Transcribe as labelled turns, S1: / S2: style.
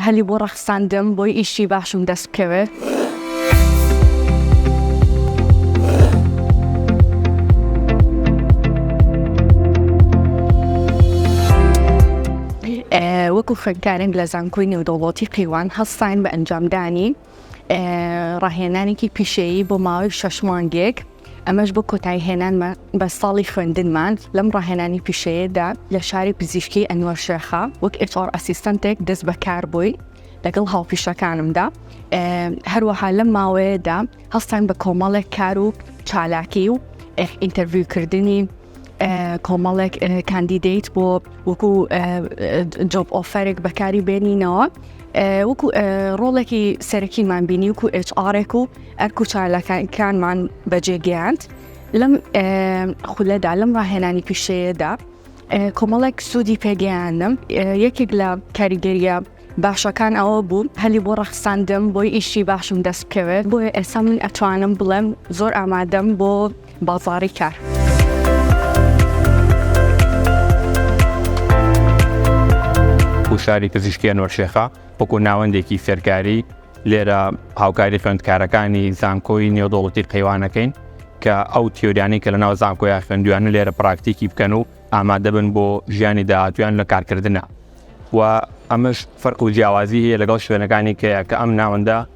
S1: هەلی بۆ ڕەخساندم بۆی ئیشی باشم دەست بکەوێت. وەکو خوێندکارێک لە زانکۆی نێودەوڵەتی قەیوان هەستاین بە ئەنجامدانی. ڕاهێنانێکی پیشەیی بۆ ماوەی شەش مانگێک ئەمەش بۆ کۆتایی هێنانمە بە ساڵی خوێندنمان لەم ڕاهێنانی پیشەیەدا لە شاری پزیشکی ئەنوەر شێخە وەک ئێچۆڕ ئەسیستەنتێک دەست بەکار بووی لەگەڵ هاوپیشەکانمدا هەروەها لەم ماوەیەدا هەستان بە کۆمەڵێک کار و چالاکی و ئینتەرڤیوکردنی کۆمەڵێک کاندیدیت بۆ وەکو جۆب ئۆفەرێک بەکاری بێنینەوە وەکو ڕۆڵێکی سەرەکیمان بینی وکو ئچارێک و ئەرک و چالەکانکانمان بەجێگەیاند لەم خولەدا لەم ڕاهێنانی پیشەیەدا کۆمەڵێک سوودی پێگەیانم یەکێک لە کاریگەریە باشەکان ئەوە بوو هەلی بۆ ڕەخساندم بۆی ئیشی باشم دەست بکەوێت بۆیە ئێستا من ئەتوانم بڵێم زۆر ئامادەم بۆ بازاڕی کار.
S2: هوشاری پزیشکی ئەنوەرشێخە وەکو ناوەندێکی فێرکاری لێرە هاوکاری خوێندکارەکانی زانکۆی نێودوڵەتی قەیوانەکەین کە ئەو تیۆریانی کە لە ناو زانکۆیان خوێندویانە لێرە پراکتیکی بکەن و ئامادەبن بۆ ژیانی داهاتویان لە کارکردە و ئەمەش فەرق و جیاوازی هەیە لەگەڵ شوێنەکانی کەیە کە ئەم ناوەندە